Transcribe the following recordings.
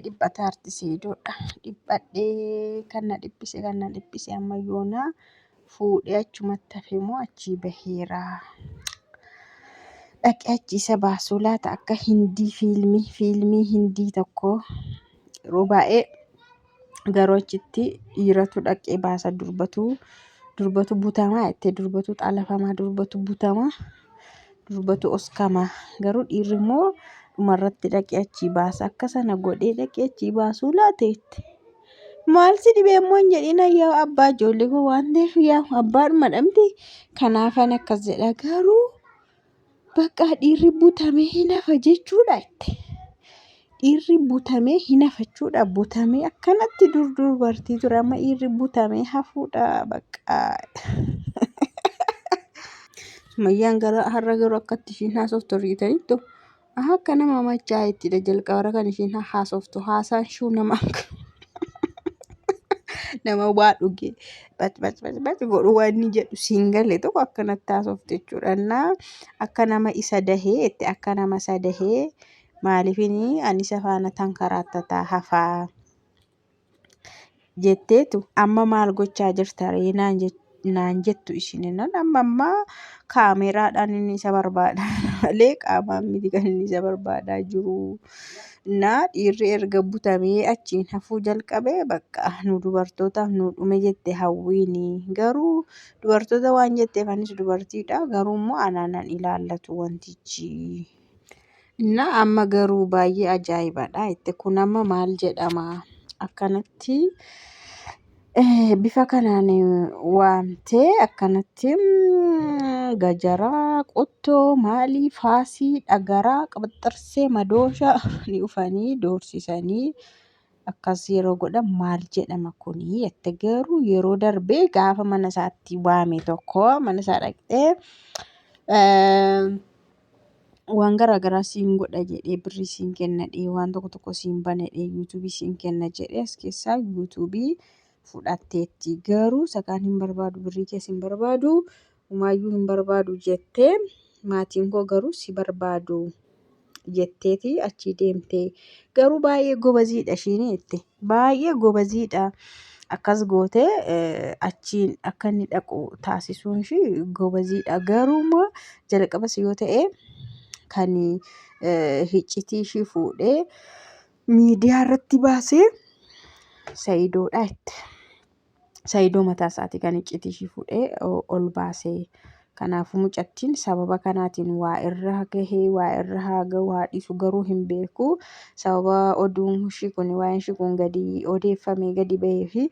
dhiphate arti seedoodha dhiphadhee kan na dhiphise kan na dhiphise amma yoona fuudhee achumatti hafee moo achii baheera dhaqee achii isa baasuu laata akka hindii fiilmii fiilmii hindii tokko yeroo baay'ee garuu achitti dhiiratu dhaqee baasa durbatu durbatu butamaa jettee durbatu xalafamaa durbatu butamaa Durbatu oskama garuu dhiirri immoo dhumarratti dhaqee achii baasa akka sana godhee dhaqee achii baasuu laata jette. Maal si dhibee immoo hin jedhin ayyaa abbaa ijoollee koo waan ta'eef yaa abbaadhuma dhamti kanaafan akkas jedha garuu bakka dhiirri butamee hin hafa jechuudha jette. Dhiirri butamee hin hafachuudha. Butamee akkanatti dur dubartii ture amma dhiirri butamee hafuudha bakka. Sumayyaan gara har'a garuu akkatti ishiin haasoftu riitaniittu. Aha akka nama machaa ittidha jalqabara kan ishiin haasoftu haasaan shuu nama nama waa dhugee bacbacbacbac godhu waan inni jedhu siin gale tokko akkanatti haasofte jechuudha. Innaa akka nama isa dahee itti akka nama isa dahee maaliifin ani isa faana tankaraattataa hafaa jetteetu amma maal gochaa jirta ree naan jette. naan jettu ishininan amma amma kaameeraadhaan inni isa barbaada malee qaamaan miti kan inni isa barbaadaa jiru naa dhiirri erga butamee achiin hafuu jalqabee bakka nu dubartootaaf nu dhume jette hawwiini garuu dubartoota waan jetteef anis dubartiidha garuu immoo anaanan ilaallatu wantichi Innaa amma garuu baay'ee ajaa'ibadha. Itti kun amma maal jedhama? Akkanatti eh, bifa kanaan waamtee akkanatti mm, gajaraa, qottoo, maalii, faasii, dhagaraa, qabaxxarsee, madooshaa ni dhufanii doorsisanii akkas yeroo godhan maal jedhama kuni jette garuu yeroo darbee gaafa mana isaatti waame tokko mana isaa dhaqxee eh, waan garaa garaa siin godha jedhee birrii siin kenna jedhee waan tokko tokko siin bana jedhee yuutuubii siin kenna jedhee as keessaa yuutuubii fudhatteetti garuu sakaan hin barbaadu birrii kees hin barbaadu umaayyuu hin barbaadu jettee maatiin koo garuu si barbaadu jetteeti achii deemtee garuu baay'ee gobaziidha ishiin jette. baay'ee gobaziidha. Akkas gootee achiin akka inni dhaqu taasisuun ishii gobaziidha. Garuu immoo jalqabas yoo ta'e kan hiccitii ishii fuudhee miidiyaa irratti baasee sayidoodha jette. Saidoo mataa isaatii kan iccitii ishii fuudhee ol baase. Kanaafuu mucattiin sababa kanaatiin waa irra gahee waa irra haa gahu haa dhiisu garuu hin beeku. Sababa oduun ishii kun waa'een ishii kun gadi odeeffamee gadi bahee fi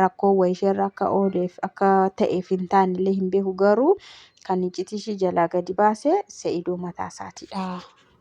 rakkoo wayii ishee irra akka ooleef akka ta'eef hin taane illee hin beeku garuu kan iccitii ishii jalaa gadi baase Saidoo mataa isaatiidha.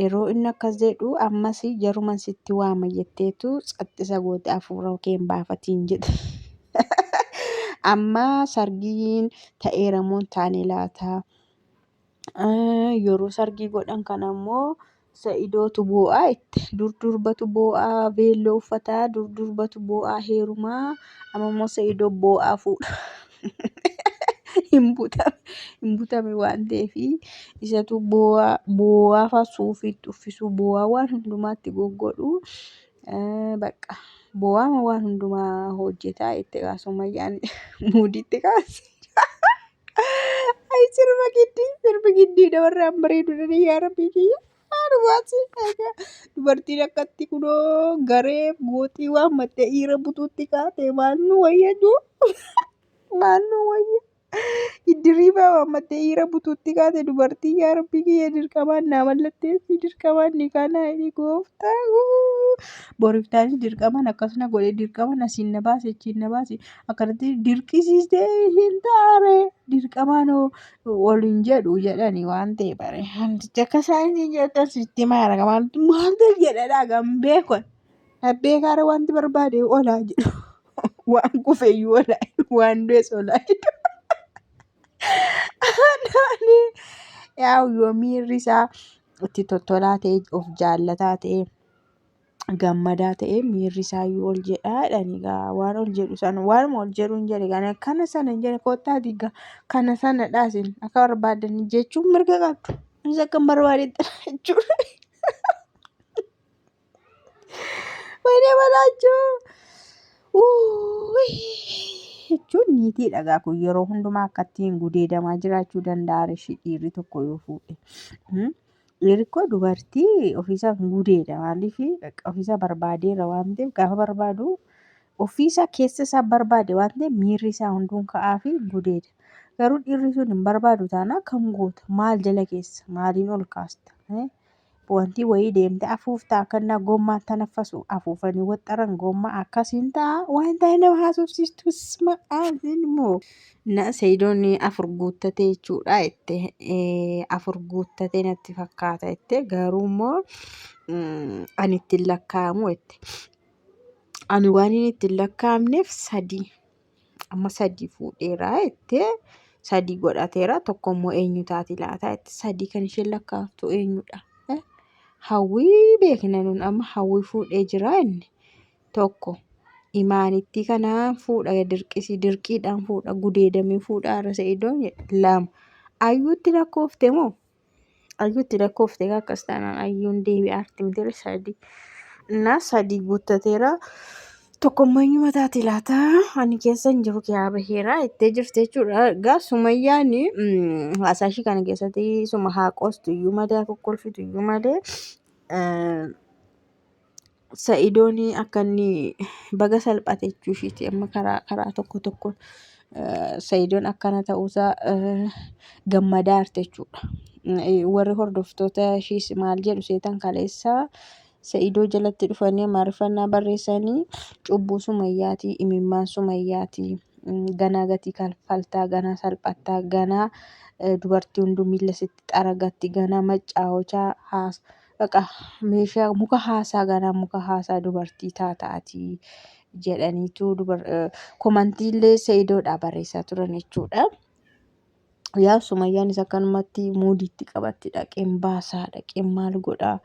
Yeroo inni akkas jedhu ammas jaruman sitti waama jetteetu tsaxxisa goote afuura kee hin baafatiin jedhe. Amma sargiin ta'eera moo hin taane laata? Yeroo sargii godhan kana immoo sa'idootu boo'aa itti dur durbatu boo'aa veelloo uffataa dur durbatu boo'aa heerumaa amma immoo sa'idoo boo'aa fuudha. hin butame hin butame waan ta'eef isatu boo'aa boo'aa faa suufiitti uffisuu boo'aa waan hundumaatti goggodhu eh, bakka boo'aama waan hundumaa hojjetaa itti kaa summayyaan muudiitti kaase. Ay sirba giddii sirbi giddii dabarraan bareedu dha yaa rabbii kiyya. Dubartiin akkatti kunoo garee gooxii waan mattee dhiira butuutti kaatee maal nu wayyaduu? Maal nu wayya? Iddiriibaa waan mattee dhiira butuutti kaate dubartii yaa rabbii kiyya dirqamaan naa mallatteessii dirqamaan ni kaanaa jedhee gooftaa koo. Boriftaanis dirqamaan akkas na godhe dirqamaan asiin na baase achiin na baase akkanatti dirqisiistee hin taare dirqamaan hoo waliin jedhu jedhani waan ta'e bare handicha akka isaan isin jettan sitti maara maaltu maaltu jedhadha kan beekon dhabbee kaara wanti barbaade olaa jedhu waan kufeyyuu olaa waan du'es olaa jedhu. Yaa yoo miirri isaa itti tottolaa ta'e of jaallataa ta'e. gammadaa ta'ee miirri isaayyuu ol jedhaa jedhan egaa waan ol jedhu sana waanuma ol jedhu hin jedhe kana kana sana hin jedhe kottaa diiga kana sana dhaasin akka barbaadan jechuun mirga qabdu innis akka hin barbaadetti jechuudha. Wayinee balaachuu jechuun niitii dhagaa kun yeroo hundumaa akkatti hin gudeedamaa jiraachuu danda'a rishii dhiirri tokko yoo fuudhe. Dhiirikko dubartii ofiisaa hin gudeeda maaliif ofiisaa barbaadeera waan ta'eef gaafa barbaadu ofiisaa keessa isaa barbaade waan ta'eef miirri isaa hunduun ka'aa fi gudeeda. Garuu dhiirri sun hin barbaadu taanaa kan goota maal jala keessa maaliin ol kaasta. Wanti wayii deemte afuuftaa akkannaa gommaa tanaffasu afuufanii waxxaran gommaa akkasiin ta'a waan ta'e nama haasofsiistu sma immoo. Na Sayidoon afur guuttatee jechuudha jette afur guuttatee natti fakkaata jette garuu immoo ani ittiin lakkaa'amu jette ani waan inni ittiin lakkaa'amneef sadii amma sadii fuudheera jette sadii godhateera tokko immoo eenyu taati laata jette sadii kan isheen lakkaa'amtu eenyudha hawwii beekna nun amma hawwii fuudhee jira inni tokko imaanittii kana fuudha dirqisii dirqiidhaan fuudha gudeedamee fuudha har'a sa'idoo lama ayyuutti lakkoofte moo ayyuutti lakkoofte akkas taanaan ayyuun deebii artimtire sadii innaa sadii guuttateera tokkommayyuu mataati laata ani keessa hin jiru kiyaa baheera ittee jirte jechuudha gaa sumayyaan haasaa ishii kana keessatti suma haa qoostu iyyuu malee haa kokkolfitu iyyuu malee Sa'idoon akka inni baga salphate jechuu ishiiti amma karaa karaa tokko tokkoon eh, Sa'idoon akkana ta'uusaa eh, gammadaa jirti jechuudha. Eh, Warri hordoftoota ishiis maal jedhu seetan kaleessa Sa'idoo jalatti dhufanii amaariffannaa barreessanii cubbuu sumayyaatii imimmaan sumayyaatii mm, ganaa gatii kalfaltaa ganaa salphattaa ganaa eh, dubartii hunduu miila sitti xaragatti ganaa maccaa hochaa haas Dhaqa, meeshaa muka haasaa ganaa muka haasaa dubartii taata ati jedhaniitu dubar komantiillee Sa'idoodhaa barreessaa turan jechuudha. Yaa Sumayyaanis akkanumatti muudiitti qabatti dhaqeen baasaa dhaqeen maal godhaa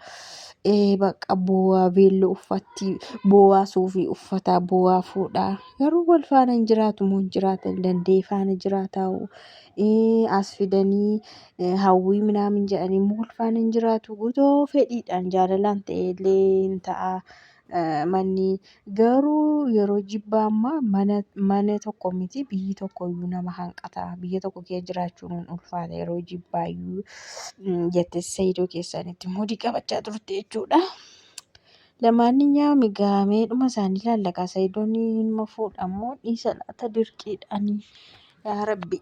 ee baqa boo'aa veelloo uffatti boo'aa suufii uffataa boo'aa fuudhaa garuu wal faana hin jiraatu moo hin jiraatan danda'ee faana jiraataa as fidanii hawwii minaamin jedhanii immoo ulfaan hin jiraatu guutoo fedhiidhaan jaalalaan ta'ee illee hin ta'a manni garuu yeroo jibbaa ammaa mana mana tokko miti biyyi tokko iyyuu nama hanqata biyya tokko kee jiraachuun hin ulfaata yeroo jibbaa iyyuu jette sayidoo keessanitti moodii qabachaa turte jechuudha. Lamaaniyyaam egaa meedhuma isaanii laallaqaa sayidoon hin fuudhamoo dhiisa laata dirqiidhaanii yaa rabbi.